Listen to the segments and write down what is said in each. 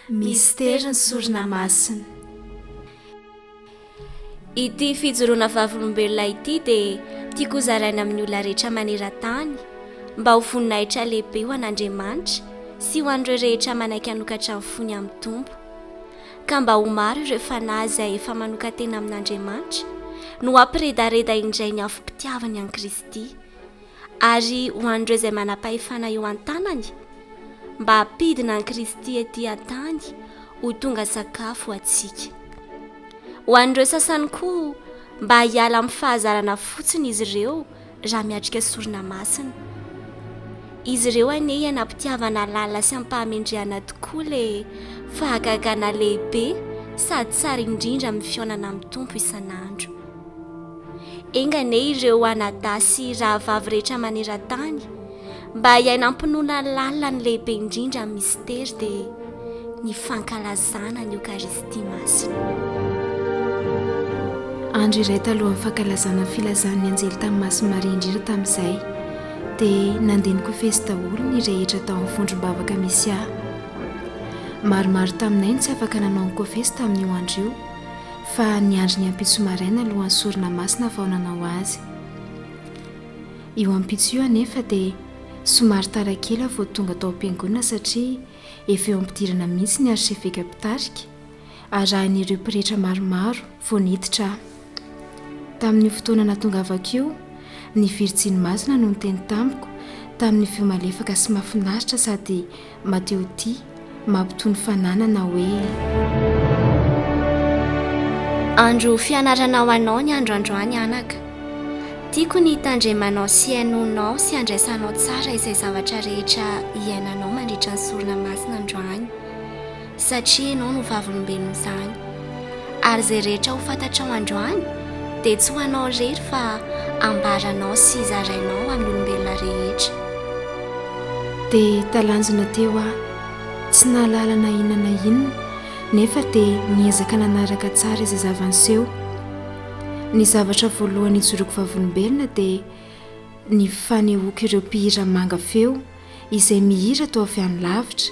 Mistery ny sorona masina. Ity fijoroana vavolombelona ity dia tiako zaraina amin'ny olona rehetra maneran-tany mba ho voninahitra lehibe ho an'Andriamanitra sy ho an'ireo rehetra manaiky hanokatra ny fony amin'ny Tompo ka mba ho maro ireo fanahy izay efa manokan-tena amin'Andriamanitra no hampiredareda indray ny afom-pitiavany an'i Kristy. Ary ho an'ireo izay manam-pahefana eo an-tanany, mba hampidina an'i Kristy etỳ an-tany ho tonga sakafo ho antsika. Ho an'ireo sasany koa, mba hiala amin'ny fahazarana fotsiny izy ireo raha miatrika sorona masina. Izy ireo anie ianam-pitiavana lalina sy am-pahamendrehana tokoa ilay fahagagana lehibe sady tsara indrindra amin'ny fihaonana amin'ny Tompo isan'andro. Enga anie ireo anadahy sy rahavavy rehetra maneran-tany mba hiainam-pinoana lalina ny lehibe indrindra amin'ny misitery dia ny fankalazana ny Eokaristia Masina. Andro iray talohan'ny fankalazana ny filazan'ny anjely tamin'ny Masin'i Maria indrindra tamin'izay dia nandeha nikofesy daholo ny rehetra tao amin'ny vondrom-bavaka misy ahy. Maromaro taminay no tsy afaka nanao ny kofesy tamin'io andro io. Fa niandry ny ampitso maraina alohan'ny sorona masina vao nanao azy. Io ampitso io anefa dia somary tara kely aho vao tonga tao am-piangonana satria efa eo am-pidirana mihitsy ny arseveka mpitarika, arahin'ireo pretra maromaro vao niditra aho. Tamin'io fotoana nahatongavako io, ny Virjiny Masina no niteny tamiko tamin'ny feo malefaka sy mahafinaritra sady Mateo ty mampitony fananana hoe. Andro fianarana ho anao ny andro androany anaka. Tiako ny hitandremanao sy henoinao sy handraisanao tsara izay zavatra rehetra iainanao mandritra ny sorona masina androany. satria ianao no vavolombelon' izany, ary izay rehetra ho fantatrao androany dia tsy ho anao irery fa hambaranao sy zarainao amin' ny olombelona rehetra. Dia talanjona teo aho, tsy nahalala na inona na inona, nefa dia niezaka nanaraka tsara izay zava-niseho. Ny zavatra voalohany ijoroako vavolombelona dia ny fanehoako ireo mpihira manga feo izay mihira toa avy any lavitra,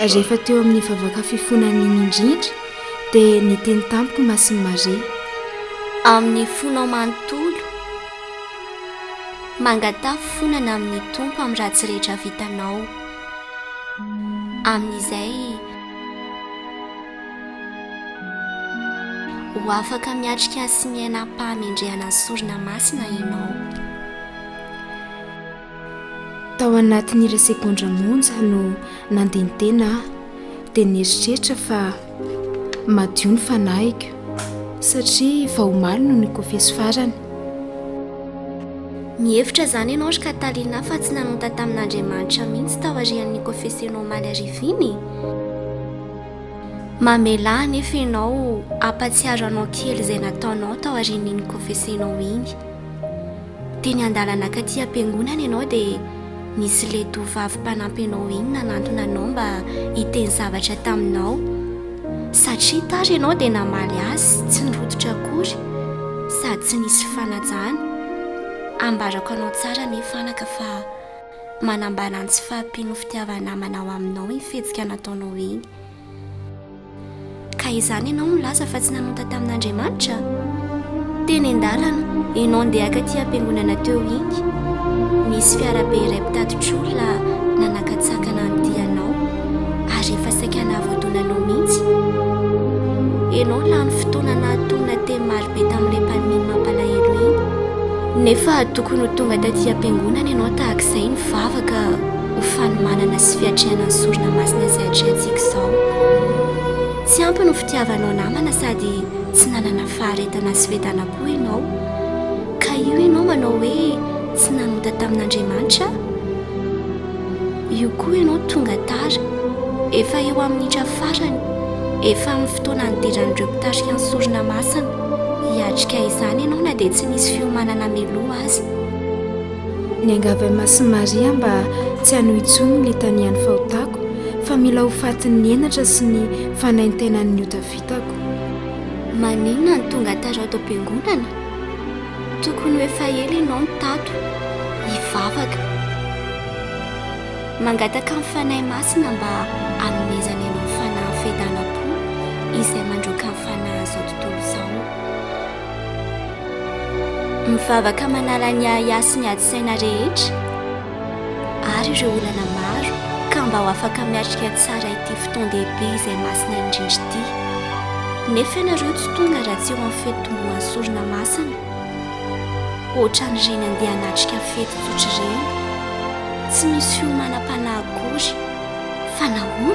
Rehefa teo amin'ny vavaka fifonana iny indrindra dia niteny tamiko Masin'i Maria. Amin'ny fonao manontolo, mangataha fifonana amin'ny Tompo amin'ny ratsy rehetra vitanao. Amin'izay, ho afaka miatrika sy miaina am-pahamendrehana ny sorona masina ianao. Tao anatin'ny iray segondra monja no nandeha ny tena aho dia nieritreritra fa madio ny fanahiko satria vao omaly no nikofeso farany. Mihevitra izany ianao ry Katalina fa tsy nanota tamin'Andriamanitra mihitsy taorian'ny nikofesenao omaly hariva iny? Mamelà anefa ianao hampatsiaro anao kely izay nataonao taorian'ny nikofesenao iny. Teny an-dalana ankatỳ am-piangonana ianao dia nisy ilay tovovavy mpanampy anao iny nanantona anao mba hiteny zavatra taminao. Satria tara ianao dia namaly azy tsy nirototra akory sady tsy nisy fanajana. Ambarako anao tsara anie fanaka fa manambara ny tsy fahampian'ny fitiavan'ny namanao aminao iny fihetsika nataonao iny. Ka izany ianao no milaza fa tsy nanonta tamin'Andriamanitra? Teny an-dalana, ianao ndeha haka aty am-piangonana teo iny, nisy fiarabe iray mpitatitr'olona nanakatsakana an'ity anao, ary efa saika nahavotona anao mihitsy. Ianao lany fotoana nahatonina teny marobe tamin'ilay mpaniminy mampalahelo iny. Nefa tokony ho tonga taty am-piangonana ianao tahaka izay nivavaka. ho fanomanana sy fiatrehana ny sorona masina izay atrehantsika izao. Tsy ampy ny fitiavanao namana sady tsy nanana faharetana sy fetana koa ianao, ka io ianao manao hoe tsy nanota tamin'Andriamanitra? Io koa ianao tonga tara, efa eo amin'ny minitra farany, efa amin'ny fotoana nidiran'ireo mpitarika ny sorona masina hiatrika izany ianao na dia tsy nisy fiomanana mialoha aza. Niangavy an'i Masin'i Maria mba tsy hanohy intsony ny litanian'ny fahotako fa mila ho fatin'ny henatra sy ny fanaintainan'ny ota vitako. Maninona no tonga tara ato am-piangonana? Tokony ho efa ela ianao no tato, hivavaka. Mangataka amin'ny Fanahy Masina mba hanomezany anao fanahy fiadanam-po izay mandroaka ny fanahin'izao tontolo izao. Mivavaka manala ny ahiahy sy ny ady saina rehetra ary ireo olana maro ka mba ho afaka miatrika tsara ity fotoan-dehibe izay masina indrindra ity. Nefa ianareo tsy tonga raha tsy eo amin'ny fety tombohan'ny sorona masina. Ohatran'ireny andeha hanatrika fety tsotra ireny. Tsy misy fiomanam-panahy akory. Fa nahoana?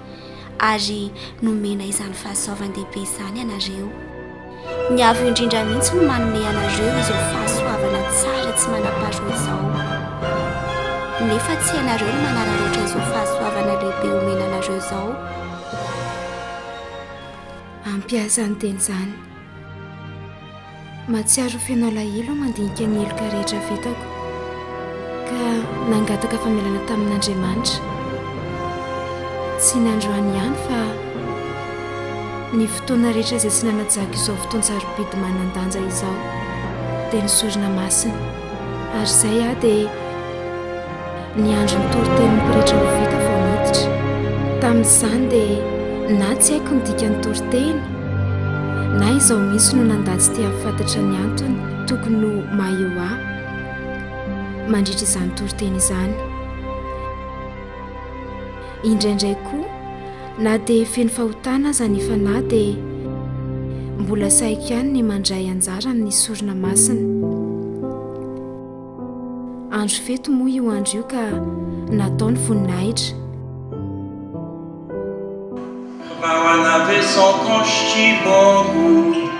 ary nomena izany fahasoavan-dehibe izany ianareo. Ny avo indrindra mihitsy no manome anareo izao fahasoavana tsara tsy manam-paharoa izao. Nefa tsy ianareo no manararaotra izao fahasoavana lehibe omena anareo izao. Ampiasa ny teny izany. Mahatsiaro ho feno alahelo aho mandinika ny heloka rehetra vitako, ka nangataka famelana tamin'Andriamanitra. Tsy ny androany ihany fa ny fotoana rehetra izay tsy nanajako izao fotoan-tsarobidy manan-danja izao dia ny sorona masina. Ary izay aho dia niandry ny toritenin'ny pretra ho vita vao niditra. Tamin'izany dia na tsy haiko ny dikan'ny toriteny, na izao misy no nandà tsy te hahafantatra ny antony tokony ho maha eo ahy mandritra izany toriteny izany. Indraindray koa Na dia feno fahotana aza ny fanahy dia mbola sahiko ihany ny mandray anjara amin'ny sorona masina. Andro fety moa io andro io ka natao ny voninahitra. Raha manabe sans conche bongo.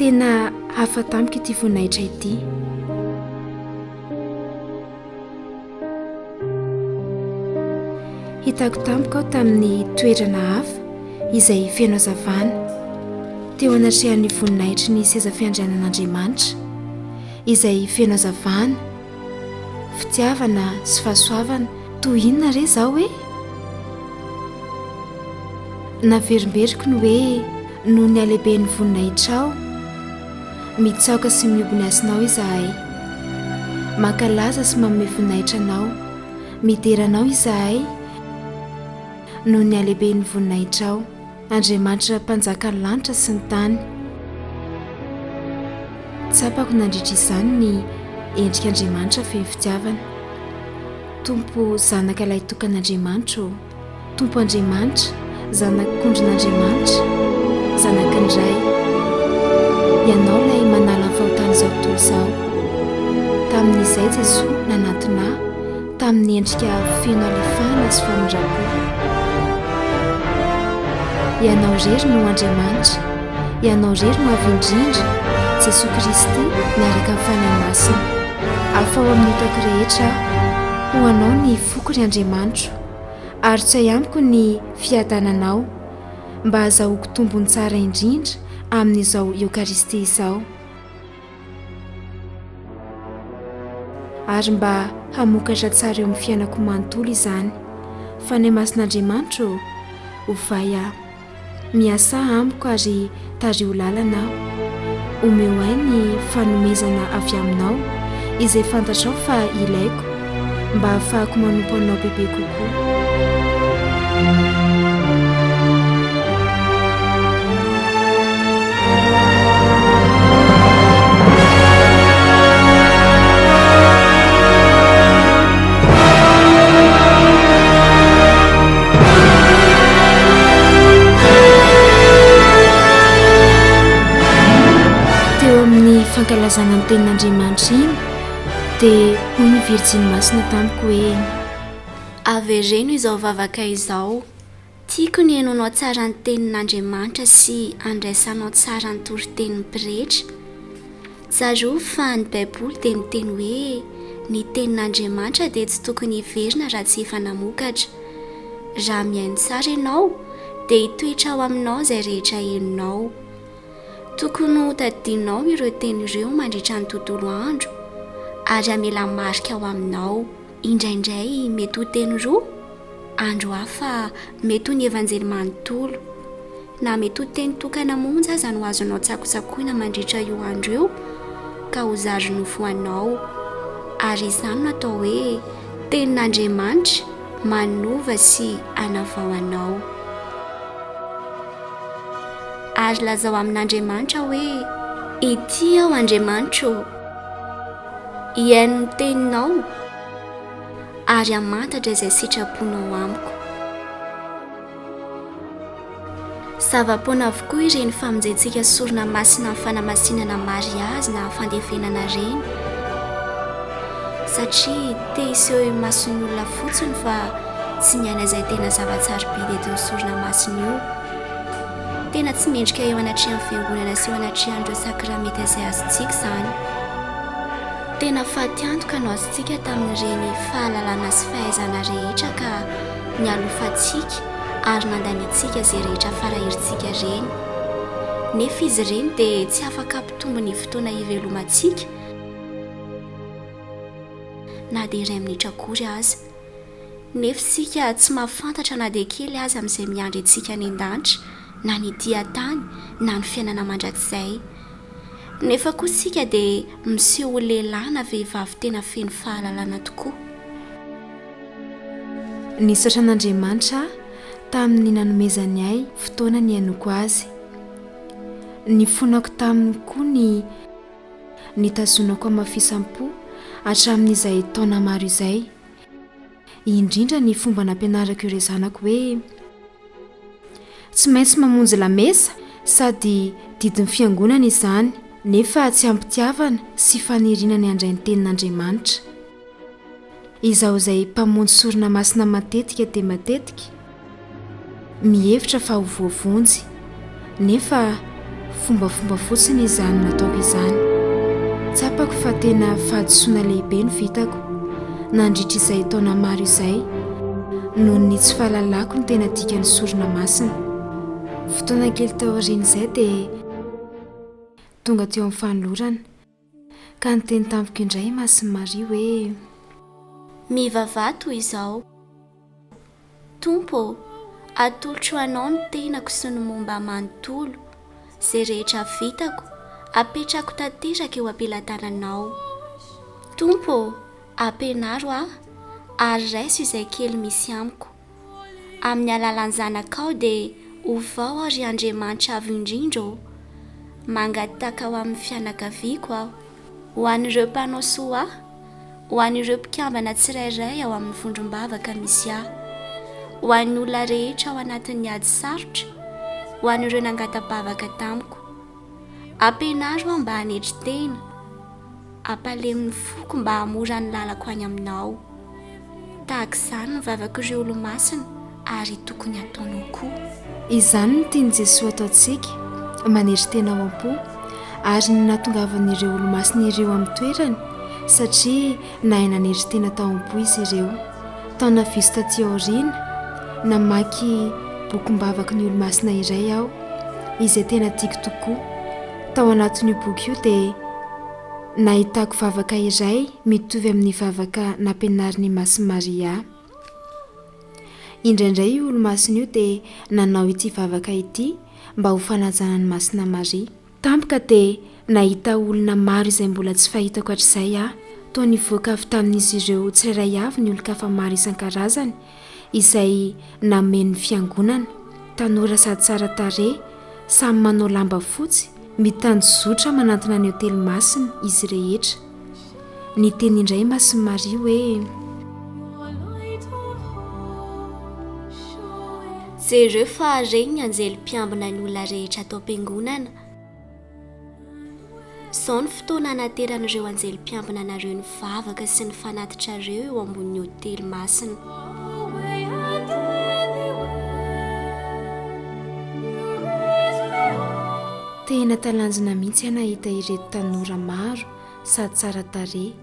Tena hafa tamiko ity voninahitra ity. Hitako tampoka aho tamin'ny toerana hafa izay feno hazavana, teo anatrehan'ny voninahitry ny seza fiandrianan'Andriamanitra, izay feno hazavana, fitiavana sy fahasoavana. Toy inona re izao e? Naverimberiko ny hoe noho ny halehiben'ny voninahitrao. Mitsaoka sy mihoby ny hasinao izahay. Mankalaza sy manome voninahitra anao. Midera anao izahay noho ny halehiben'ny voninahitrao. Andriamanitra mpanjakan'ny lanitra sy ny tany. Tsapako nandritra izany ny endrik'Andriamanitra feno fitiavana. Tompo zanaka lahy tokan'Andriamanitra ô. Tompo Andriamanitra, Zanak'Akondron'Andriamanitra, Zanaky ny Ray. Ianao ilay manala ny fahotan'izao tontolo izao. Tamin'izay Jesoa nanatona ahy tamin'ny endrika feno halefahana sy famindram-po. Ianao irery no Andriamanitra, Ianao irery no Avo Indrindra, Jesoa Kristy miaraka amin'ny Fanahy Masina. Afaho amin'ny otako rehetra aho, ho Anao ny foko ry Andriamanitro. ary tsy hay amiko ny fiadananao mba hazahoako tombony tsara indrindra amin'izao Eokaristia izao ary mba hamokatra tsara eo amin'ny fiainako manontolo izany. Fanahy Masin'Andriamanitra ô, ovay aho. Miasà amiko ary tariho lalana aho. Omeo ahy ny fanomezana avy aminao izay fantatrao fa ilaiko mba hahafahako manompo anao bebe kokoa. Teo amin'ny fankalazana ny tenin'Andriamanitra iny dia hoy ny Virjiny Masina tamiko hoe. Avereno izao vavaka izao. Tiako ny henoanao tsara ny Tenin'Andriamanitra sy handraisanao tsara ny toritenin'ny pretra. Tsarovy fa ny Baiboly dia niteny hoe ny Tenin'Andriamanitra dia tsy tokony hiverina raha tsy efa namokatra. Raha mihaino tsara ianao, dia hitoetra ao aminao izay rehetra henonao. Tokony hotadidianao ireo teny ireo mandritra ny tontolo andro, ary hamela marika ao aminao. Indraindray mety ho teny roa, andro hafa mety ho ny Evanjely manontolo. Na mety ho teny tokana monja aza no azonao tsakotsakoina mandritra io andro io ka ho zary nofo anao. Ary izany no atao hoe tenin'Andriamanitra manova sy anavao anao. Ary lazao amin'Andriamanitra hoe, Ety aho Andriamanitra ô! Hihaino ny teninao ary hamantatra izay sitraponao amiko. Zava-poana avokoa ireny famonjentsika sorona masina amin'ny fanamasinana mariazy na fandevenana ireny satria te hiseho imason'ny olona fotsiny fa tsy ny aina izay tena zava-tsarobidy eto amin'ny sorona masina io. Tena tsy mendrika eo anatrehan'ny fiangonana sy eo anatrehan'ireo sakramenta izay azontsika izany. Tena fatiantoka no azontsika tamin'ireny fahalalana sy fahaizana rehetra ka nialofantsika ary nandaniantsika izay rehetra farahirintsika ireny. Nefa izy ireny dia tsy afaka hampitombo ny fotoana ivelomantsika na dia iray minitra akory aza. Nefa isika tsy mahafantatra na dia kely aza amin'izay miandry antsika any an-danitra, na ny tia tany, na ny fiainana mandrakizay. Nefa koa isika dia miseho ho lehilahy na vehivavy tena feno fahalalana tokoa. Nisaotra an'Andriamanitra aho tamin'ny nanomezany ahy fotoana nihainoako azy. Nifonako taminy koa ny. nitazonako amafisam-po hatramin'izay taona maro izay, indrindra ny fomba nampianarako ireo zanako hoe tsy maintsy mamonjy lamesa sady didin'ny fiangonana izany nefa tsy am-pitiavana sy faniriana ny handray ny tenin'Andriamanitra. Izaho izay mpamonjy sorona masina matetika dia matetika mihevitra fa ho voavonjy, nefa fombafomba fotsiny izany nataoko izany. Tsapako fa tena fahadisoana lehibe no vitako nandritra izay taona maro izay, noho ny tsy fahalalako ny tena dikan'ny sorona masina. Fotoana kely taorian'izay dia tonga teo amin'ny fanolorana. Ka niteny tampoka indray i Masin'i Maria hoe. Mivavaha toy izao, Tompo ô, atolotro Anao ny tenako sy ny momba ahy manontolo, izay rehetra vitako, apetrako tanteraka eo am-pelatananao. Tompo ô, ampianaro ahy, ary raiso izay kely misy amiko. Amin'ny alalan'ny Zanakao dia ovao aho ry Andriamanitra Avo Indrindra ô! Mangataka ho amin'ny fianakaviako aho, ho an'ireo mpanao soa ahy, ho an'ireo mpikambana tsirairay ao amin'ny vondrom-bavaka misy ahy, ho an'ny olona rehetra ao anatin'ny ady sarotra, ho an'ireo nangata-bavaka tamiko. Ampianaro aho mba hanetry tena. Ampalemy ny foko mba hahamora ny lalako any Aminao. Tahaka izany ny vavak'ireo Olomasina ary tokony hataonao koa. Izany no tian'i Jesoa ataontsika, manery tena ao am-po, ary ny nahatongavan'ireo Olomasina ireo amin'ny toerany, satria nahay nanery tena tao am-po izy ireo. Taona vitsy taty aoriana, namaky bokim-bavaky ny Olomasina iray aho, izay tena tiako tokoa. Tao anatin'io boky io dia nahitako vavaka iray mitovy amin'ny vavaka nampianarin'i Masy Maria ahy. Indraindray io Olomasina io dia nanao ity vavaka ity mba ho fanajana an'i Masina Maria. Tampoka dia nahita olona maro izay mbola tsy fahitako hatrizay aho, toa nivoaka avy tamin'izy ireo tsirairay avy ny olon-kafa maro isan-karazany, izay namen'ny Fiangonana, tanora sady tsara tarehy, samy manao lamba fotsy, mitanjozotra manantona ny Otely Masina izy rehetra. Niteny indray Masin'i Maria hoe. Jereo fa Reny ny Anjely mpiambina ny olona rehetra ato am-piangonana. Izao ny fotoana hanateran'ireo anjely mpiambina anareo ny vavaka sy ny fanatitrareo eo ambonin'ny hotely masina. Tena talanjona mihitsy aho nahita ireto tanora maro sady tsara tarehy,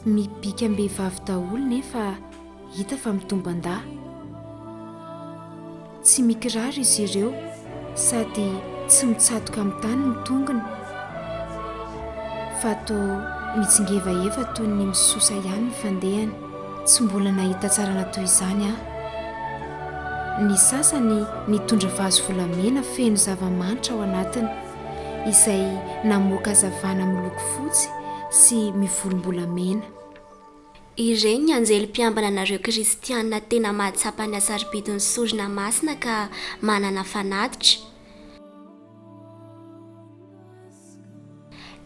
mibikam-behivavy daholo nefa Hita fa mitomban-dahy. Tsy mikiraro izy ireo sady tsy mitsatoka amin'ny tany ny tongony fa toa mitsingevaeva toy ny misosa ihany ny fandehany. Tsy mbola nahita tsarana toy izany aho. Ny sasany nitondra vazo volamena feno zava-manitra ao anatiny izay namoaka hazavana miloko fotsy sy mivolombolamena. Ireny anjely mpiambina anareo kristiana tena mahatsapa ny hasarobidin'ny sorona masina ka manana fanatitra,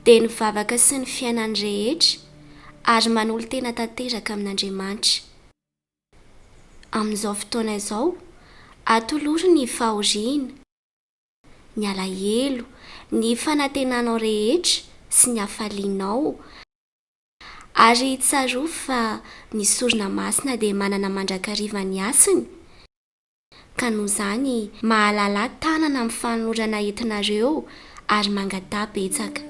dia ny vavaka sy ny fiainany rehetra, ary manolo-tena tanteraka amin'Andriamanitra. Amin'izao fotoana izao, atoloro ny fahoriana, ny alahelo, ny fanantenanao rehetra sy ny hafalianao, Ary tsarovy fa ny sorona masina dia manana mandrakariva ny hasiny, ka noho izany mahalala tanana amin'ny fanolorana entinareo ary mangataha betsaka.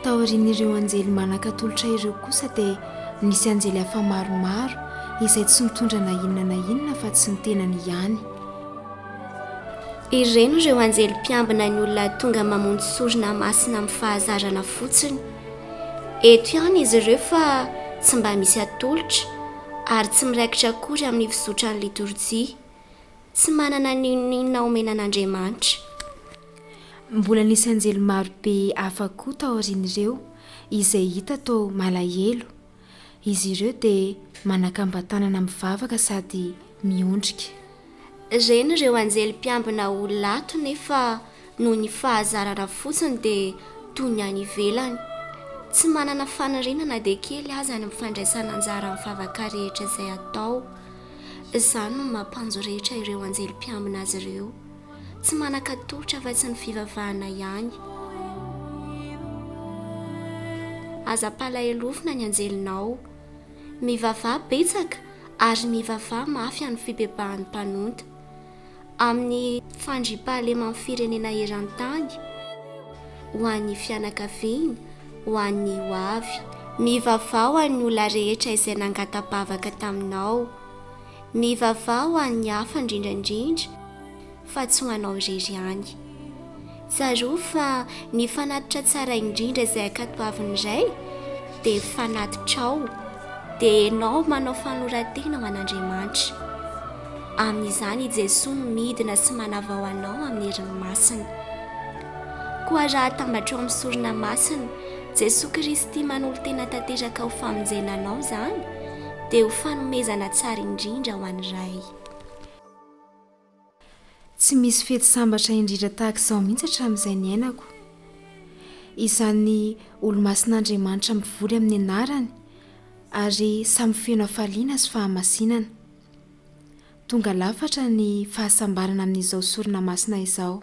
Taorian'ireo anjely manan-katolotra ireo kosa dia nisy anjely hafa maromaro izay tsy nitondra na inona na inona fa tsy ny tenany ihany. Ireny ireo anjely mpiambina ny olona tonga mamonjy sorona masina amin'ny fahazarana fotsiny. Eto ihany izy ireo fa tsy mba misy atolotra ary tsy miraikitra akory amin'ny fizotran'ny litorjia. Tsy manana n'inon'inona omena an'Andriamanitra. Mbola nisy anjely maro be hafa koa taorian'ireo, izay hita toa malahelo. Izy ireo dia manakamban-tanana mivavaka sady miondrika. Reny ireo anjely mpiambina ho lato nefa noho ny fahazarana fotsiny dia toy ny any ivelany. Tsy manana faniriana na dia kely aza ny fandraisana anjara amin'ny vavaka rehetra izay atao. Izany no mampanjo rehetra ireo anjely mpiambina azy ireo. Tsy manan-katolotra afa-tsy ny fivavahana ihany. Aza ampalahelofina ny anjelinao. Mivavaha betsaka ary mivavaha mafy amin'ny fibebahan'ny mpanonta. Amin'ny fandriampahaleman'ny firenena eran-tany, ho an'ny fianakaviany, ho an'ny hoavy. Mivavaha ho an'ny olona rehetra izay nangata-bavaka taminao. Mivavaha ho an'ny hafa indrindra indrindra fa tsy ho anao irery ihany. Tsarovy fa ny fanatitra tsara indrindra izay ankatoavin'ny Ray dia fanatitrao, dia ianao manao fanoloran-tena ho an'Andriamanitra. Amin'izany i Jesoa no midina sy manavao anao amin'ny heriny masina. Koa raha atambatrao amin'ny sorona masina Jesoa Kristy manolo-tena tanteraka ho famonjena anao izany, dia ho fanomezana tsara indrindra ho an'i Ray. Tsy misy fety sambatra indrindra tahaka izao mihitsy hatramin'izay niainako. Izany olomasin'Andriamanitra mivory amin'ny anarany ary samy feno hafaliana sy fahamasinana. Tonga lafatra ny fahasambarana amin'izao sorona masina izao.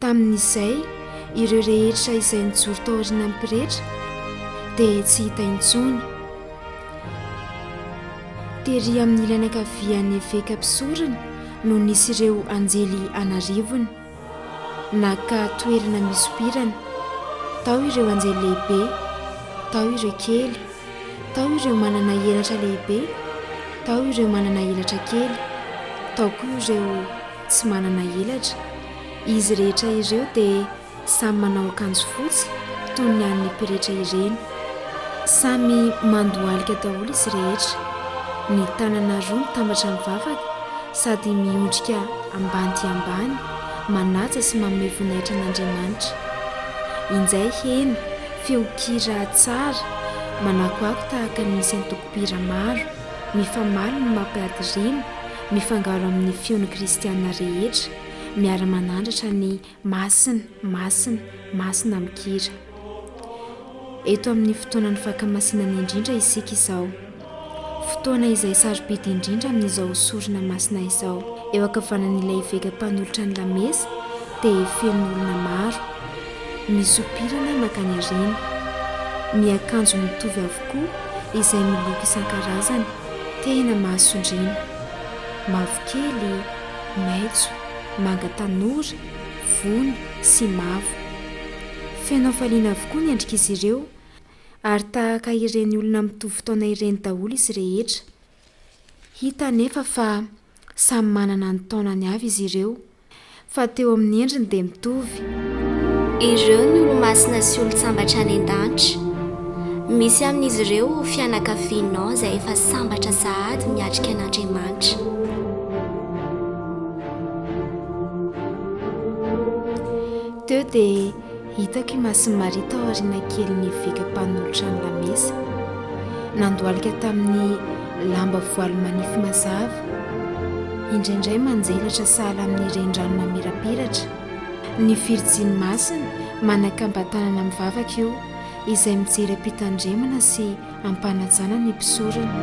Tamin'izay, ireo rehetra izay nijoro taorianan'ny pretra dia tsy hita intsony. Tery amin'ny ilany ankavian'ny eveka mpisorona no nisy ireo anjely an'arivony. Naka toerana misompirana. Tao ireo anjely lehibe, tao ireo kely, tao ireo manana elatra lehibe, tao ireo manana elatra kely, tao koa ireo tsy manana elatra. Izy rehetra ireo dia samy manao akanjo fotsy toy ny an'ny pretra ireny. Samy mandohalika daholo izy rehetra. Ny tanana roa mitambatra mivavaka sady miondrika ambany dia ambany manaja sy manome voninahitra an'Andriamanitra. Injay heno feon-kira tsara manakoako tahaka ny isan-toko-pira maro mifamaly no mampiady rima Mifangaro amin'ny fion'ny kristiana rehetra miara-manandratra ny Masina, Masina, Masina amin-kira. Eto amin'ny fotoanan'ny fankamasinana indrindra isika izao. Fotoana izay sarobidy indrindra amin'izao sorona masina izao. Eo ankavanan'ilay eveka mpanolotra ny lamesa dia feno olona maro, misompirana mankany aoriana, miakanjo mitovy avokoa izay miloko isan-karazany. Tena mahasondriana. Mavokely, maitso, manga tanora, vony sy mavo. Feno hafaliana avokoa ny endrik'izy ireo ary tahaka ireny olona mitovy taona ireny daholo izy rehetra. Hita anefa fa samy manana ny taonany avy izy ireo. fa teo amin'ny endriny dia mitovy. Ireo ny olo-masina sy olon-tsambatra any an-danitra. Misy amin'izy ireo ho fianakavianao izay efa sambatra sahady miatrika an'Andriamanitra. Teo dia Hitako imason'i Maria tao aoriana kely ny eveka mpanolotra ny lamesa. Nandohalika tamin'ny lamba voaly manify mazava. Indraindray manjelatra sahala amin'ny renirano mamirapiratra. Ny Virjiny Masina manakamba-tanana mivavaka eo, izay mijery am-pitandremana sy am-panajana ny mpisorona.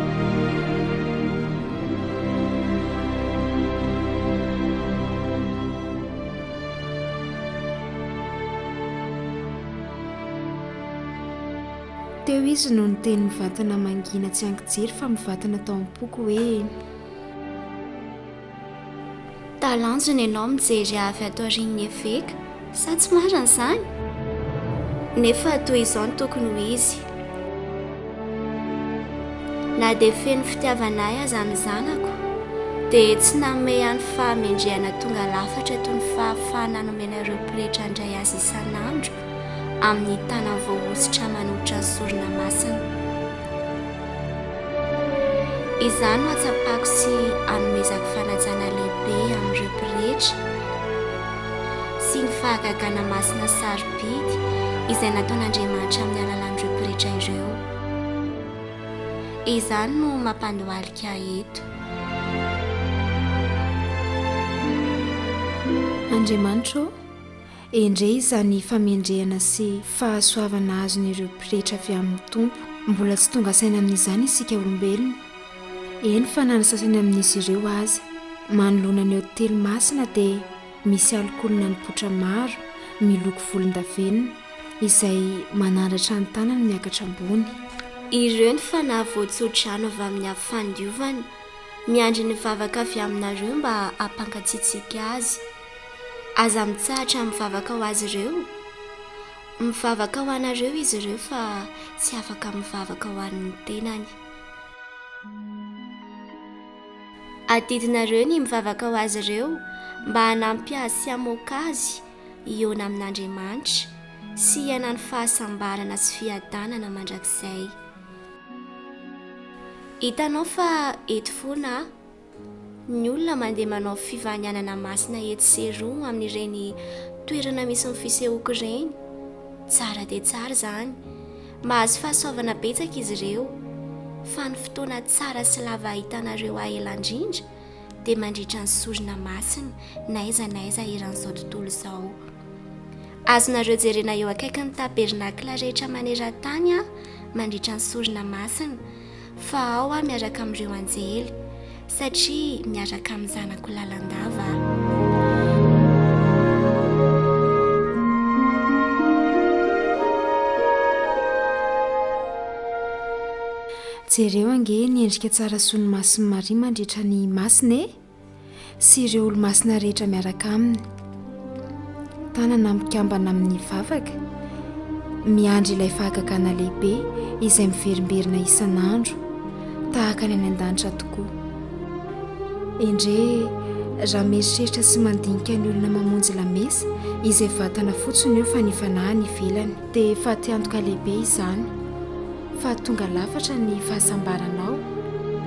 Teo izy no niteny mivatana mangina tsy ankijery fa mivatana tao am-poko hoe. Talanjona ianao mijery avy ato aorian'ny eveka, sa tsy marina izany? Nefa toy izao no tokony ho izy. Na dia feno fitiavana ahy aza ny zanako, dia tsy nanome ahy ny fahamendrehana tonga lafatra toy ny fahafahana nomena ireo pretra handray azy isan'andro amin'ny tanany voahosotra manoatra ny sorona masina. Izaho no hatsapako sy hanomezako fanajana lehibe amin'ireo pretra. sy ny fahagagana masina sarobidy izay nataon'Andriamanitra amin'ny alalan'ireo pretra ireo. Izany no mampandohalika eto. Andriamanitra ô, endrey izany famendrehana sy fahasoavana azon'ireo pretra avy amin'ny Tompo. Mbola tsy tonga saina amin'izany isika olombelona, Eny fa na ny sasany amin'izy ireo aza. Manoloana ny hotely masina dia misy alikaolinà nipoitra maro miloko volondavenona izay manandratra ny tanany miakatra ambony. Ireo ny fanahy voatso-drano avy amin'ny Avo Fandiovana, miandry ny vavaka avy aminareo mba hampankatsiantsika Azy. Aza mitsahatra mivavaka ho azy ireo. Mivavaka ho anareo izy ireo fa tsy afaka mivavaka ho an'ny tenany. Adidinareo ny mivavaka ho azy ireo mba hanampy azy sy hamoaka azy hihaona amin'Andriamanitra sy hiainany fahasambarana sy fiadanana mandrakizay. Hitanao fa eto foana aho. Ny olona mandeha manao fivanianana masina etsy sy eroa amin'ireny toerana misy ny fisehoako ireny. Tsara dia tsara izany. Mahazo fahasoavana betsaka izy ireo. Fa ny fotoana tsara sy lava hahitanareo ahy ela indrindra dia mandritra ny sorona masina n'aiza n'aiza eran'izao tontolo izao. Azonareo jerena eo akaikin'ny tabernakla rehetra maneran-tany aho mandritra ny sorona masina. fa ao aho miaraka amin'ireo anjely, satria miaraka amin'ny zanako lalandava Jereo ange ny endrika tsara soa ny mason'i Maria mandritra ny masina e! sy ireo olomasina rehetra miaraka aminy tanana mikambana amin'ny vavaka miandry ilay fahagagana lehibe izay miverimberina isan'andro tahaka ny any an-danitra tokoa endre raha mieritreritra sy mandinika ny olona mamonjy lamesa izay vatana fotsiny io fa ny fanahy ny velany dia fatiantoka lehibe izany fa tonga lafatra ny fahasambaranao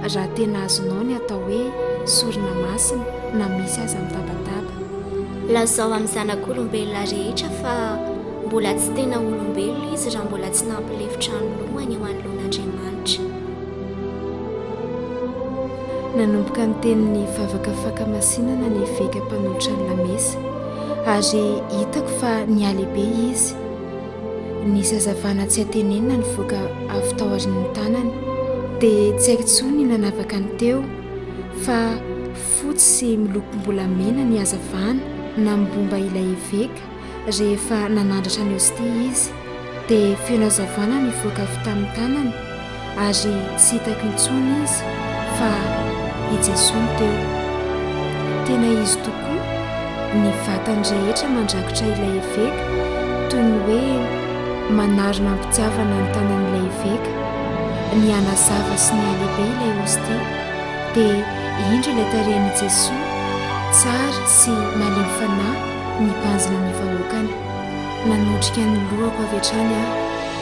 raha tena azonao ny atao hoe sorona masina na misy aza mitabataba. Lazao amin'ny zanak'olombelona rehetra fa mbola tsy tena olombelona izy raha mbola tsy nampilefitra ny lohany eo anoloan'Andriamanitra. Nanomboka niteny ny vavaka fakamasinana ny eveka mpanolotra ny lamesa ary hitako fa nihalehibe izy Ny zazavana tsy antenenina nivoaka avy tao aorian'ny tanany, dia tsy haiko intsony ny nanavaka ny teo, fa fotsy sy milokom-bolamena ny hazavana namobomba ilay eveka rehefa nanandratra ny hostia izy, dia feno hazavana nivoaka avy tamin'ny tanany, Ary tsy hitako intsony izy fa i Jesoa no teo. Tena izy tokoa, ny vatany rehetra mandrakotra ilay eveka toy ny hoe manarona am-pitiavana ny tanan'ilay eveka. Nihanazava sy nihalehibe ilay hostia, dia indro ilay tarehin'i Jesoa tsara sy malemy fanahy nibanjina ny vahoakany. Nanotrika ny lohako avy hatrany aho.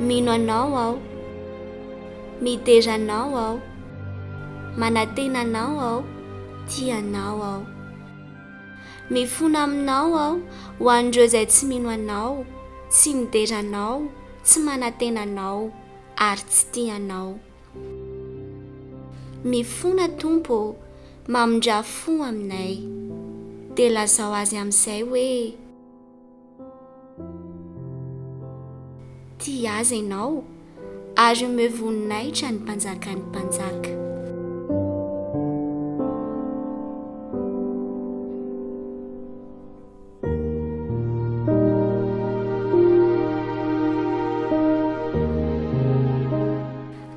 Mino Anao aho. Midera Anao aho. Manantena Anao aho. Tia Anao aho. Mifona aminao aho ho an'ireo izay tsy mino Anao, tsy midera Anao, tsy manantena Anao, ary tsy tia Anao. Mifona Tompo ô, mamindrà fo aminay. Dia lazao azy amin'izay hoe. Tia azy ianao, ary omeo voninahitra ny Mpanjakan'ny mpanjaka.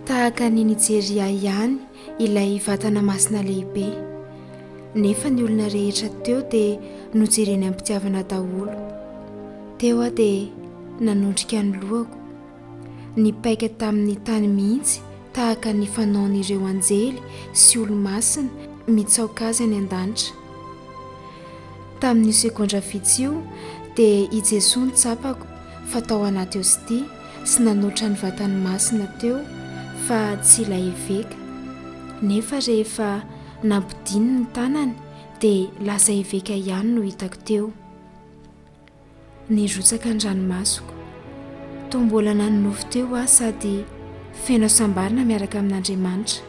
Tahaka an'i Nijeria ihany ilay vatana masina lehibe. Nefa ny olona rehetra teo dia nojereny am-pitiavana daholo. Teo aho dia nanondrika ny lohako, nipaika tamin'ny tany mihitsy tahaka ny fanaon'ireo anjely sy olo-masina mitsaoka azy any an-danitra. Tamin'io segondra vitsy io dia i Jesoa no tsapako. fa tao anaty hostia sy nanoitra ny vatany masina teo fa tsy ilay eveka. Nefa rehefa nampidiny ny tanany dia lasa eveka ihany no hitako teo. Nirotsaka ny ranomasoko. Toa mbola nanonofy teo aho sady feno hasambarana miaraka amin'Andriamanitra.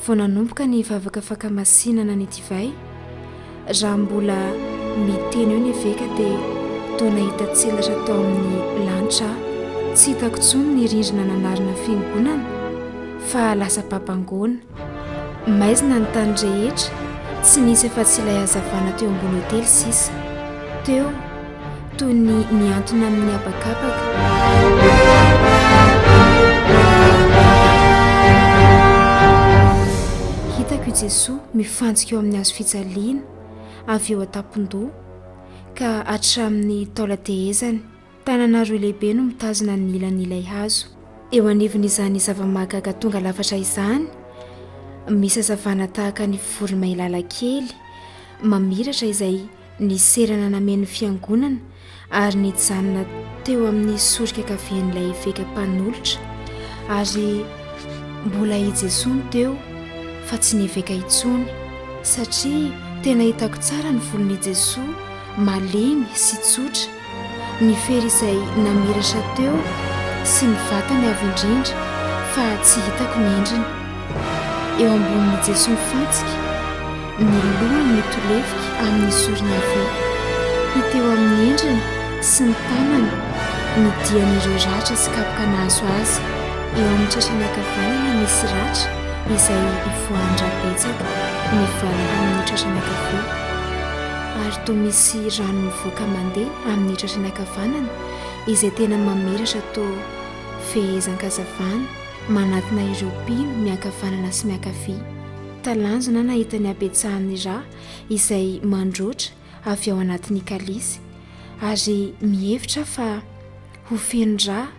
vao nanomboka ny vavaka fakamasinana ny divay, raha mbola miteny eo ny eveka dia toa nahita tselatra tao amin'ny lanitra aho. Tsy hitako intsony ny rindrina nanarina fiangonana fa lasa babangoana. Maizina ny tany rehetra, tsy nisy afa-tsy ilay hazavana teo ambony otely sisa. Teo. toy ny miantona amin'ny habakabaka. Hitako i Jesoa mifantsika eo amin'ny hazo fijaliana avy eo an-tampon-doha ka hatramin'ny taolan-tehezany. Tanana roa lehibe no mitazona ny ilan'ilay hazo. Eo anivon'izany zava-mahagaga tonga lafatra izany, misy hazavana tahaka ny voromailala kely mamiratra izay Niserana nameno fiangonana ary nijanona teo amin'ny sorika kavian'ilay eveka mpanolotra ary mbola i Jesoa no teo fa tsy ny eveka intsony satria tena hitako tsara ny volon'i Jesoa malemy sy tsotra Ny fery izay namiratra teo sy ny vatany avo indrindra fa tsy hitako ny endriny. Eo ambonin'i Jesoa mifantsika, ny lohany mitolefika amin'ny sorona havia. Hita eo amin'ny endriny sy ny tanany ny dian'ireo ratra sy kapoka nahazo azy. Eo amin'ny tratrany ankavanana misy ratra izay ivoahan-dra betsaka mivalona amin'ny tratrany ankavia. ary toa misy rano mivoaka mandeha amin'ny tratrany ankavanana izay tena mamiratra toa fehezan-kazavana manatona ireo mpino miankavanana sy miankavia. Talanjona aho nahita ny habetsahan'ny rà izay mandroatra avy ao anatin'ny kalisy ary mihevitra aho fa ho feno rà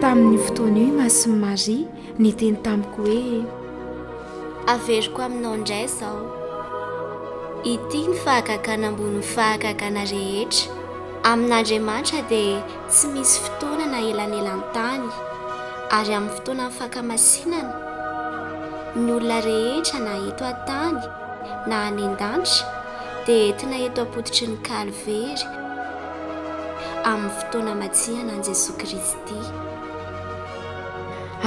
Tamin'ny fotoana io Masin'i Maria niteny tamiko hoe Averiko aminao indray izao. Ity ny fahagagana ambony fahagagana rehetra. Amin'Andriamanitra dia tsy misy fotoana na elanelan-tany, ary amin'ny fotoanan'ny fakamasinana, ny olona rehetra na eto an-tany, na any an-danitra dia entina eto am-pototry ny Kalvery amin'ny fotoana hamatsiana an'i Jesoa Kristy.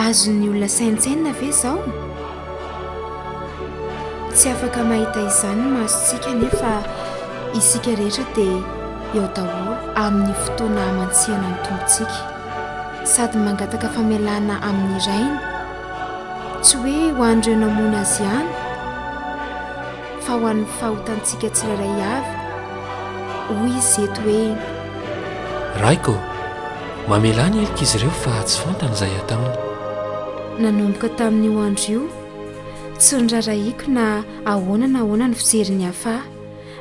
Azon'ny olona saintsainina ve izao? Tsy afaka mahita izany ny masontsika nefa isika rehetra dia eo daholo amin'ny fotoana hamatsiana ny Tompontsika sady mangataka famelana amin'ny Rainy. tsy hoe ho an'ireo namono azy ihany fa ho an'ny fahotantsika tsirairay avy, hoy izy eto hoe. Raiko, mamelà ny helok'izy ireo fa tsy fantany izay hataony. Nanomboka tamin'io andro io, tsy norarahiako na ahoana na ahoana ny fijery ny hafa,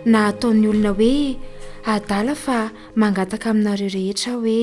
na ataon'ny olona hoe adala fa mangataka aminareo rehetra aho hoe.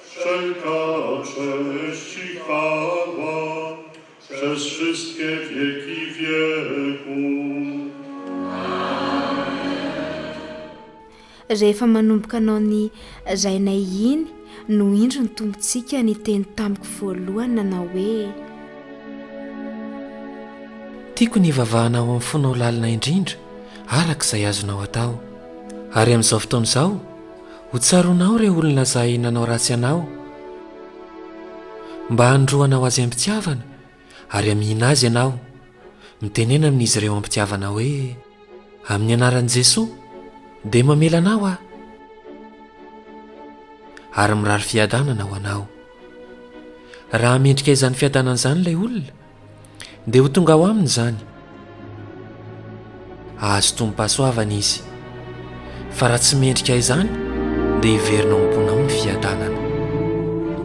Rehefa manomboka anao ny Rainay iny no indro ny Tompontsika niteny tamiko voalohany nanao hoe. Tiako ny hivavahana ao amin'ny fonao lalina indrindra araka izay azonao atao. Ary amin'izao fotoana izao, Ho tsaroanao ireo olona izay nanao ratsy anao, mba hanondroanao azy am-pitiavana, ary hamihina azy ianao. Mitenena amin'izy ireo am-pitiavana hoe, Amin'ny anaran'i Jesoa, dia mamela anao aho, ary mirary fiadanana ho anao. Raha mendrika izany fiadanana izany ilay olona, Ndeha ho tonga ao aminy izany. Hahazo tombom-pahasoavana izy. Fa raha tsy mendrika izany, dia hiverina ao am-ponao ny fiadanana.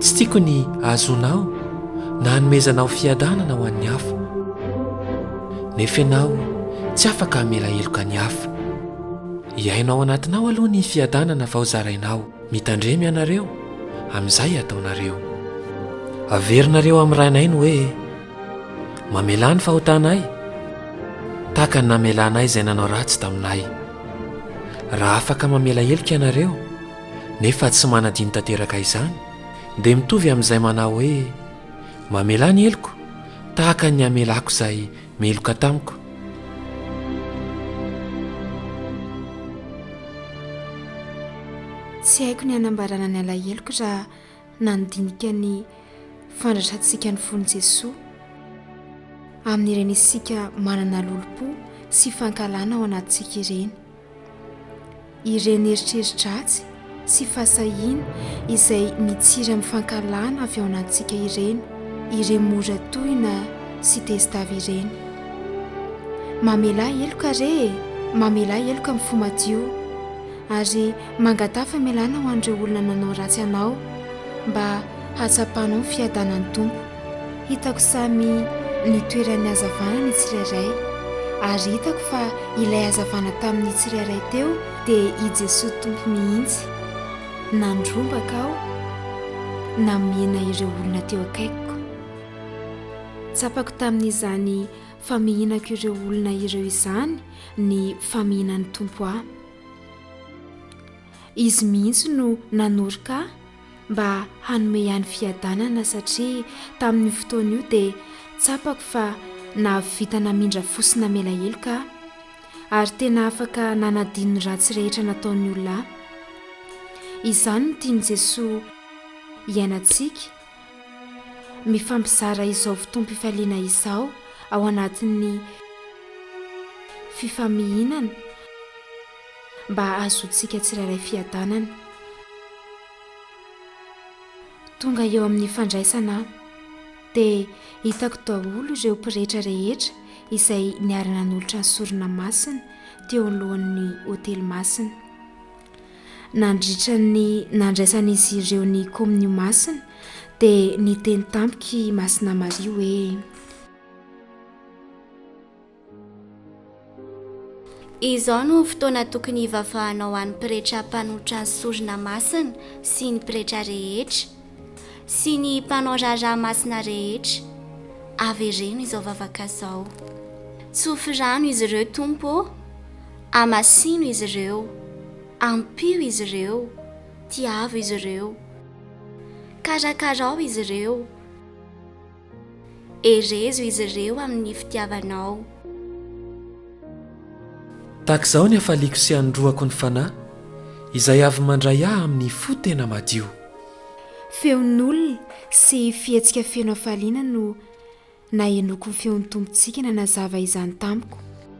Tsy tiako ny hahazoanao na hanomezanao fiadanana ho an'ny hafa. Nefa ianao tsy afaka hamela heloka ny hafa. Hiaino ao anatinao aloha ny fiadanana vao zarainao. Mitandrema ianareo amin'izay ataonareo. Averinareo amin'ny Rainay ny hoe, Mamelà ny fahotanay, tahaka ny namelanay izay nanao ratsy taminay. Raha afaka mamela heloka ianareo, nefa tsy manadino tanteraka izany, dia mitovy amin'izay manao hoe, Mamelà ny heloko, tahaka ny hamelàko izay Meloka tamiko. Tsy haiko ny hanambarana ny alaheloko raha nandinika ny fandraisantsika ny fon'i Jesoa amin'ireny isika manana lolompo sy fankahalana ao anatintsika ireny. Ireny eritreri-dratsy sy fahasahiana izay mitsiry amin'ny fankahalana avy ao anatintsika ireny ireny mora tohina sy tezitavy ireny. Mamelà heloka re e! Mamelà heloka amin'ny fo madio ary mangataha famelana ho an'ireo olona nanao ratsy anao mba hatsapanao ny fiadanan'ny Tompo. Hitako samy ny toeran'ny hazavana ny tsirairay, ary hitako fa ilay hazavana tamin'ny tsirairay teo dia i Jesoa Tompo mihitsy. Nandrombaka aho namihina ireo olona teo akaikiko. Tsapako tamin'izany famihinako ireo olona ireo izany ny famihinan'ny Tompo ahy. Izy mihitsy no nanoroka ahy. mba hanome ihany fiadanana satria tamin'io fotoana io dia tsapako fa nahavita namindra fo sy namela heloka aho ary tena afaka nanadino ny ratsy rehetra nataon'ny olona ahy. Izany no tian'i Jesoa hiainantsika, mifampizara izao fotoam-pifaliana izao ao anatin'ny fifamihinana, Mba hahazoantsika tsirairay fiadanana. Tonga eo amin'ny fandraisana aho, dia hitako daholo ireo pretra rehetra izay niara-nanolotra ny sorona masina teo alohan'ny otely masina. Nandritra ny nandraisan'izy ireo ny komonio masina, dia niteny tamiko i Masina Maria hoe. Izao no fotoana tokony hivavahanao ho an'ny pretra mpanolotra ny sorona masina sy ny pretra rehetra sy ny mpanao raharaha masina rehetra. Avereno izao vavaka izao. Tsofy rano izy ireo, Tompo ô. Amasino izy ireo. Ampio izy ireo. Tiavo izy ireo. Karakarao izy ireo. Herezo izy ireo amin'ny fitiavanao. Tahaka izao ny hafaliako sy hanoroako ny Fanahy, izay avy mandray ahy amin'ny fo tena madio. Feon'olona sy fihetsika feno hafaliana no nahenoako ny feon'ny Tompontsika nanazava izany tamiko.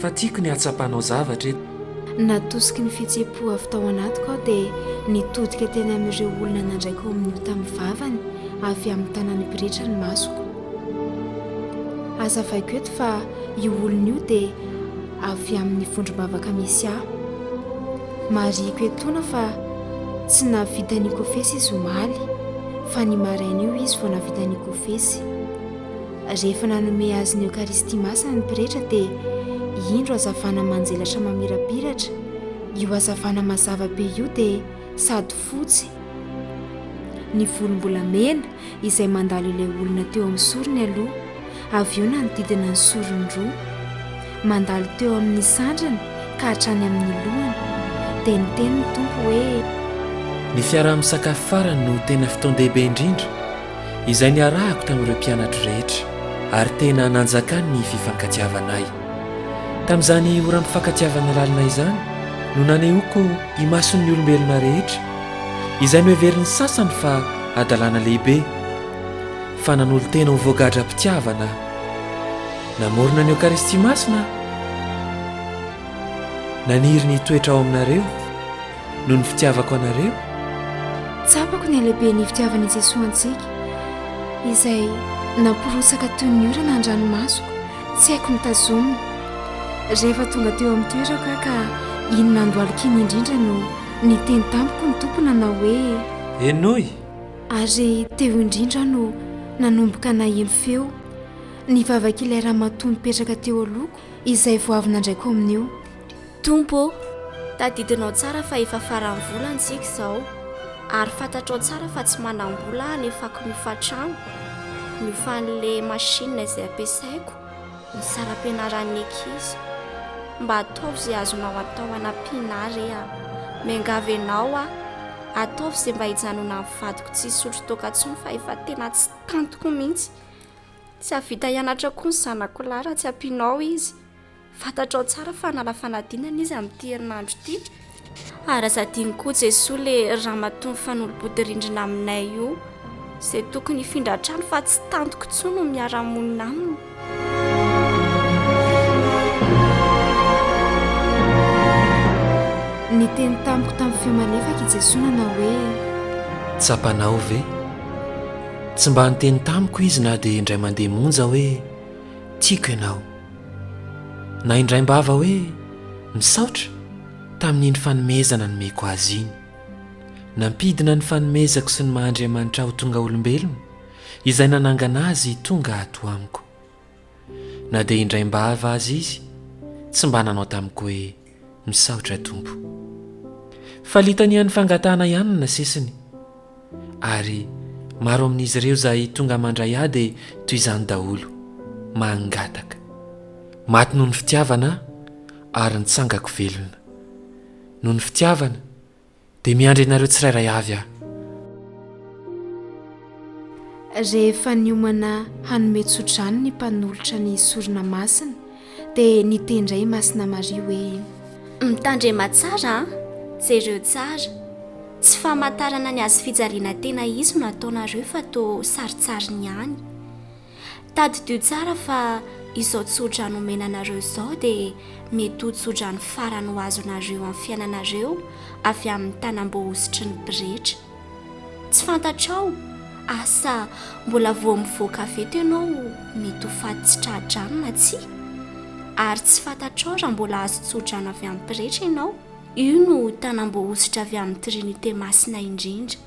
Fa tiako ny hatsapanao zavatra eto. Natosiky ny fihetse-po avy tao anatiko aho dia nitodika teny amin'ireo olona nandray kaominio tamin'ny vavany avy amin'ny tanan'ny pretra ny masoko. Hazavaiko eto fa io olona io dia avy amin'ny vondrom-bavaka misy ahy. Marihiko etoana fa tsy nahavita nikofesy izy omaly fa ny maraina io izy vao nahavita nikofesy. Rehefa nanome azy ny Eokaristia Masina ny pretra dia indro hazavana manjelatra mamirapiratra, io hazavana mazava be io dia sady fotsy, ny volom-bolamena izay mandalo ilay olona teo amin'ny sorony aloha, avy eo nanodidina ny sorony roa, mandalo teo amin'ny sandriny ka hatrany amin'ny lohany, dia niteny ny Tompo hoe. Ny fiaraha-misakafo farany no tena fotoan-dehibe indrindra izay niarahako tamin'ireo mpianatro rehetra, ary tena nanjakany ny fifankatiavanay. Tamin'izany oram-pifankatiavana lalina izany no nanehoako imason'ny olombelona rehetra, izay noheverin'ny sasany fa hadalana lehibe, fa nanolo-tena ho voagadram-pitiavana aho. Namorona ny Eokaristia Masina aho. Naniry ny hitoetra ao aminareo noho ny fitiavako anareo? Tsapako ny halehiben'ny fitiavan' i Jesoa antsika, izay namporotsaka toy ny orana an-dranomasoko, tsy haiko ny tazomina. Rehefa tonga teo amin'ny toerako aho ka iny nandohalika iny indrindra no niteny tamiko ny Tompo nanao hoe, Henoy! Ary teo indrindra aho no nanomboka naheno feo nivavak'ilay ramatoa nipetraka teo alohako izay vao avy nandraiko amin'io. Tompo ô, tadidinao tsara fa efa faran'ny volana isika izao, ary fantatrao tsara fa tsy manam-bola aho hanefako ny hofantrano, ny hofan'ilay machine izay ampiasaiko, ny saram-pianaran'ny ankizy. Mba ataovy izay azonao atao hanampiana ahy re a! Miangavy anao aho, ataovy izay mba hijanonan'ny vadiko tsy hisotro toaka intsony fa efa tena tsy tantiko mihitsy. Tsy hahavita hianatra koa ny zanako lahy raha tsy ampianao izy. Fantatrao tsara fa hanala fanadinana izy amin'ity herinandro ity. Ary aza adino koa Jesoa le ramatoa mifanolo-body rindrina aminay io. Izay tokony hifindra trano fa tsy tantiko intsony ny miara-monina aminy. Niteny tamiko tamin'ny feo malefaka i Jesoa nanao hoe. Tsapanao ve? Tsy mba niteny tamiko izy na dia indray mandeha monja hoe tiako ianao. Na indraim-bava hoe misaotra tamin'iny fanomezana nomeko azy iny. Nampidina ny fanomezako sy ny maha Andriamanitra ahy ho tonga olombelona izay nanangana azy hitonga ato amiko. Na dia indraim-bava aza izy tsy mba nanao tamiko hoe Misaotra Tompo. Fa litanian'ny fangatahana ihany no nasesiny. Ary maro amin'izy ireo izay tonga mandray ahy dia toy izany daholo. Mangataka. Maty noho ny fitiavana aho ary nitsangako velona. Noho ny fitiavana. Dia miandry anareo tsirairay avy aho. Rehefa niomana hanome tso-drano ny mpanolotra ny sorona masina dia niteny indray i Masina Maria hoe. Mitandrema tsara an! Jereo tsara! Tsy famantarana ny hazofijaliana tena hisy no ataonareo fa toa sarintsarin ihany. Tadidio tsara fa izao tsodrano omena anareo izao dia mety ho tsodrano farany ho azonareo amin'ny fiainanareo avy amin'ny tanam-boahosotry ny pretra. Tsy fantatrao? Asa mbola vao mivoaka avy eto ianao mety ho faty tsy tra-drano na tsia. Ary tsy fantatrao raha mbola azo tsodrano avy amin'ny pretra ianao? Io no tanam-boahosotra avy amin'ny Trinite Masina indrindra.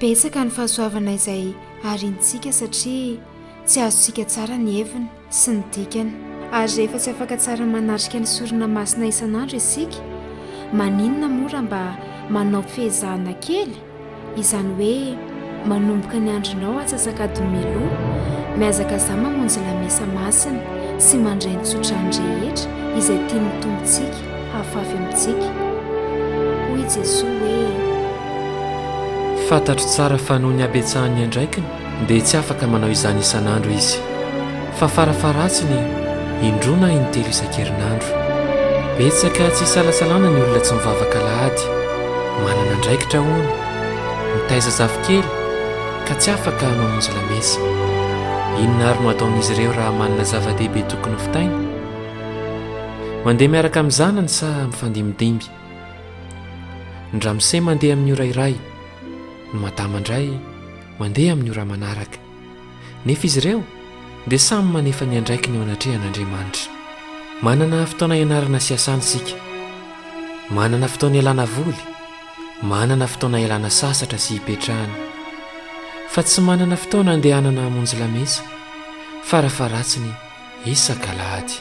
Betsaka ny fahasoavana izay ariantsika satria tsy azontsika tsara ny heviny sy ny dikany. Ary rehefa tsy afaka tsara manatrika ny sorona masina isan'andro isika, maninona moa raha mba manao fehezahana kely? Izany hoe manomboka ny andronao atsasak'adin'ny mialoha, mihazakazà mamonjy lamesa masina sy mandray ny tsodrano rehetra izay tian'ny Tompontsika hahafafy amintsika. Hoy i Jesoa hoe. Fantatro tsara fa noho ny habetsahan'ny andraikiny dia tsy afaka manao izany isan'andro izy, fa farafaharatsiny indroa na intelo isan-kerinandro. Betsaka tsy isalasalana ny olona tsy mivavaka alahady. Manana andraikitra, hono, mitaiza zafikely ka tsy afaka mamonjy lamesa. Inona àry no ataon'izy ireo raha manana zava-dehibe tokony hovitaina? Mandeha miaraka amin'ny zanany sa mifandimidimby? Ny ramose mandeha amin'ny ora iray, ny madama indray Mandeha amin'ny ora manaraka. Nefa izy ireo dia samy manefa ny andraikiny eo anatrehan'Andriamanitra. Manana fotoana ianarana sy iasana isika. Manana fotoana ialana voly. Manana fotoana ialana sasatra sy ipetrahana. Fa tsy manana fotoana andehanana hamonjy lamesa, farafaharatsiny, isak'alahady.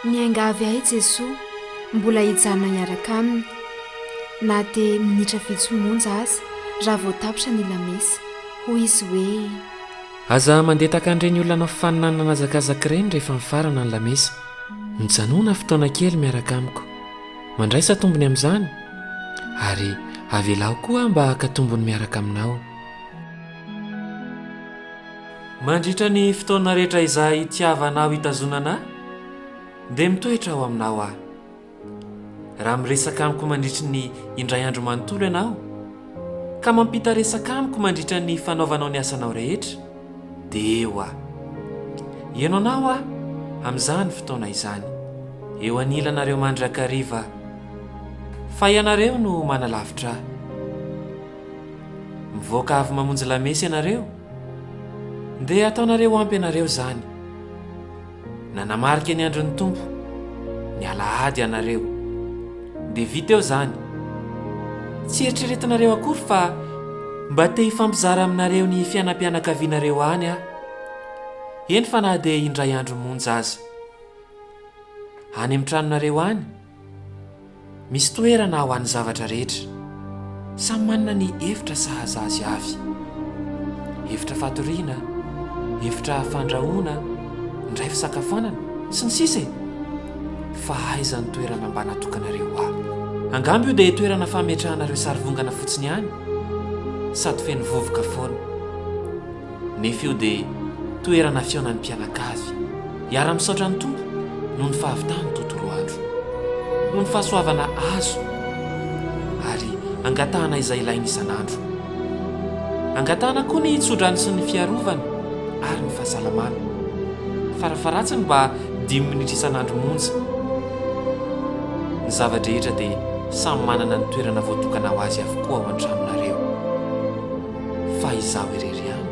Miangavy ahy Jesoa mbola hijanona hiaraka Aminy, na dia minitra vitsy monja aza, raha vao tapitra ny Lamesa. Hoy izy hoe. Aza mandeha tahaka an'ireny olona hanao faninanana an'hazakazaka ireny rehefa mifarana ny Lamesa. Mijanona fotoana kely miaraka amiko. Mandraisa tombony amin'izany, ary avelaho koa aho mba haka tombony miaraka Aminao. Mandritra ny fotoana rehetra izay itiavanao hitazonana ahy, dia mitoetra ao aminao aho. Raha miresaka amiko mandritry ny indray andro manontolo ianao, ka mampita resaka amiko mandritra ny fanaovanao ny asanao rehetra, dia eo aho. Heno anao aho amin'izany fotoana izany, eo anilanareo mandrakariva, fa ianareo no manalavitra ahy. Mivoaka avy mamonjy lamesa ianareo. Ndeha ataonareo ampy anareo izany. Nanamarika ny andron'ny Tompo ny alahady ianareo. Dia vita eo izany. Tsy eritreretinareo akory fa mba te hifampizara aminareo ny fiainam-pianakavianareo any aho. Eny fa na dia indray andro monja aza. Any amin'ny tranonareo any. Misy toerana ho an'ny zavatra rehetra. Samy manana ny efitra sahaza azy avy. Efitra fatoriana, efitra fandrahoana, indray fisakafoanana, sy ny sisa e! Fa aiza ny toerana mba natokanareo ho ahy? Angamba io dia toerana fametrahana ireo sarivongana fotsiny ihany? Sady feno vovoka foana. nefa io dia toerana fihaonan'ny mpianakavy. Hiara-misaotra ny Tompo noho ny fahavitany tontolo andro, noho ny fahasoavana azo ary angatahana izay ilainy isan'andro. Angatahana koa ny tsodrano sy ny fiarovana ary ny fahasalamana, farafaharatsiny mba dimy minitra isan'andro monja. Ny zava-drehetra dia samy manana ny toerana voatokana ho azy avokoa ao an-tranonareo. fa izaho irery ihany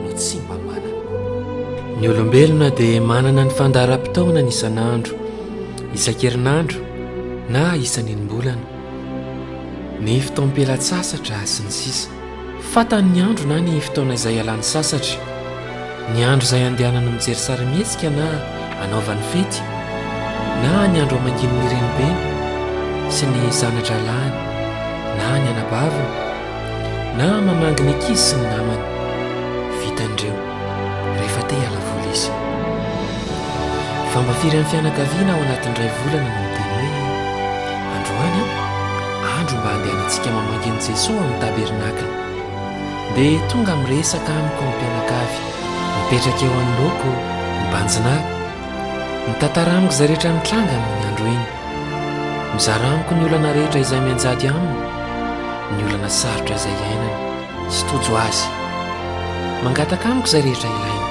no tsy mba manana. Ny olombelona dia manana ny fandaharam-potoanany isan'andro, isan-kerinandro na isan'enim-bolana, ny fotoam-pialan-tsasatra sy ny sisa. Fantany ny andro na ny fotoana izay ialany sasatra, ny andro izay andehanany mijery sarimihetsika na anaovany fety, na ny andro amanginin'ny renibeny sy ny zana-drahalahiny na ny anabaviny, Na mamangy ny ankizy sy ny namany. Vitany ireo rehefa te hiala voly izy. Fa mba firy amin'ny fianakaviana ao anatin'ny iray volana no miteny hoe, Androany an, andro mba handehanantsika mamangy an'i Jesoa amin'ny tabernakle. Dia tonga miresaka amiko ny mpianakavy mipetraka eo anoloako mibanjina ahy. Mitantara amiko izay rehetra nitranga amin'iny andro iny. Mizara amiko ny olana rehetra izay mianjady aminy, ny olana sarotra izay iainany, sy tojo azy. Mangataka amiko izay rehetra ilainy.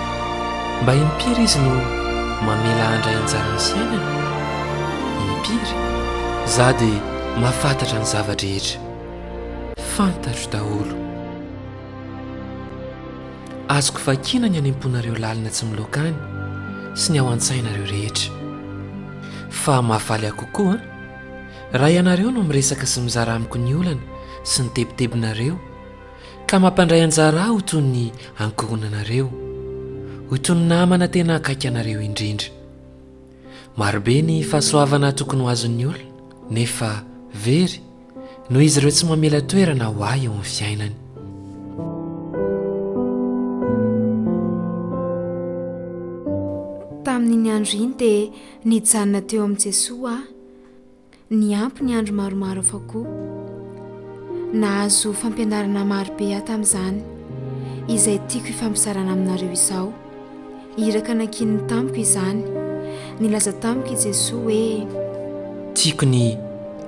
Mba impiry izy no mamela handray anjara ny fiainany? Impiry? Izaho dia mahafantatra ny zava-drehetra. Fantatro daholo. Azoko vakiana ny any am-ponareo lalina tsy miloaka any, sy ny ao an-tsainareo rehetra. Fa mahafaly ahy kokoa an! Raha ianareo no miresaka sy mizara amiko ny olana sy ny tebitebinareo, ka mampandray anjara ahy ho toy ny ankohonanareo, ho toy ny namana tena akaiky anareo indrindra. Marobe ny fahasoavana tokony ho azon'ny olona, nefa very. Noho izy ireo tsy mamela toerana ho ahy eo amin'ny fiainany. Tamin'iny andro iny dia nijanona teo amin'i Jesoa aho. Niampy ny andro maromaro hafa koa. Nahazo fampianarana marobe aho tamin'izany, izay tiako hifampizarana aminareo izao. Iraka nankininy tamiko izany. Nilaza tamiko i Jesoa hoe. Tiako ny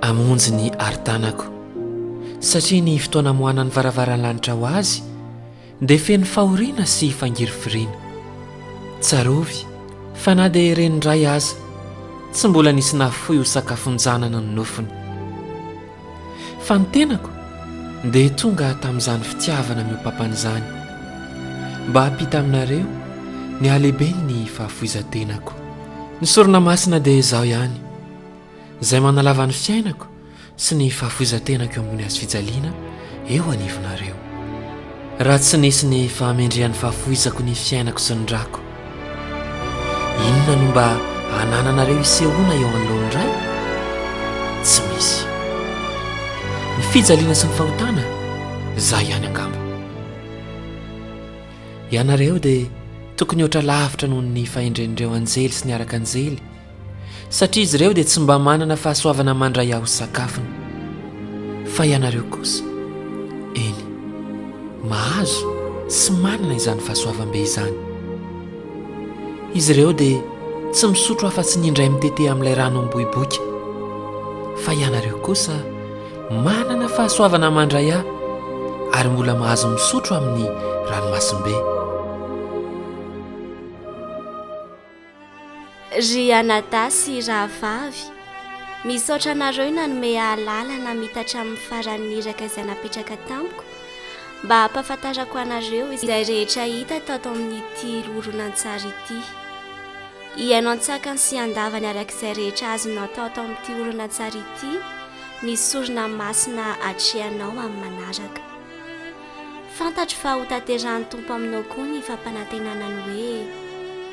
hamonjy ny arin-tanako. Satria ny fotoana amoahanan'ny varavaran'ny lanitra ho azy dia feno fahoriana sy fangirifiriana. Tsarovy fa na dia ireny indray aza tsy mbola nisy nahafoy ho sakafon-janany ny nofony. Fa ny tenako dia tonga tamin'izany fitiavana miopapana izany, mba hampita aminareo ny halehiben'ny fahafoizan-tenako. Ny sorona masina dia izaho ihany, izay manalava ny fiainako sy ny fahafoizan-tenako eo ambony hazo fijaliana eo anivonareo. Raha tsy nisy ny fahamendrehan'ny fahafoizako ny fiainako sy ny rako, Inona no mba anananareo isehoana eo anoloan'ny Ray? Tsy misy. Ny fijaliana sy ny fahotana, izay ihany angamba. Ianareo dia tokony hoatra lavitra noho ny fahendren'ireo anjely sy ny araka anjely satria izy ireo dia tsy mba manana fahasoavana mandray ahy ho sakafony. Fa ianareo kosa, eny, mahazo sy manana izany fahasoavam-be izany. Izy ireo dia tsy misotro afa-tsy ny indray mitete amin'ilay rano miboiboika. Fa ianareo kosa, manana fahasoavana mandray ahy, ary mbola mahazo misotro amin'ny ranomasimbe. Ry anadahy sy rahavavy, misaotra anareo nanome ahy lalana hamita hatramin'ny faran'ny iraka izay napetraka tamiko mba hampahafantarako anareo izay rehetra hita tato amin'ity horonantsary ity. Hihaino an-tsakany sy an-davany araka izay rehetra azonao atao ato amin'ity horonantsary ity ny sorona masina atrehanao amin'ny manaraka. Fantatro fa hotanterahin'ny Tompo aminao koa ny fampanantenana ny hoe,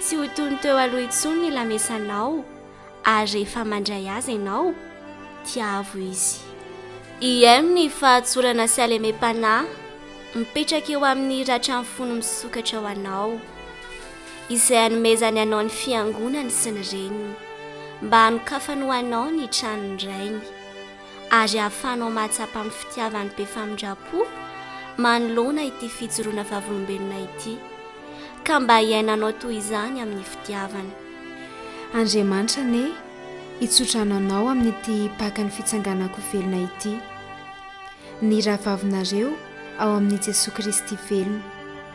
Tsy ho toy ny teo aloha intsony ny lamesanao, ary rehefa mandray azy ianao, tiavo izy. IM Ny fahatsorana sy halemem-panahy mipetraka eo amin'ny ratra ny fony misokatra ho anao, izay anomezany anao ny Fiangonany sy ny reniny, mba hanokafany ho anao ny tranon'ny Rainy. ary ahafahanao mahatsapa amin'ny fitiavany be famindram-po manoloana ity fijoroana vavolombelona ity, ka mba hiainanao toy izany amin'ny fitiavana. Andriamanitra anie hitsodrano anao amin'ity pakan'ny fitsanganan-ko velona ity, ny rahavavinareo ao amin'i Jesoa Kristy velona.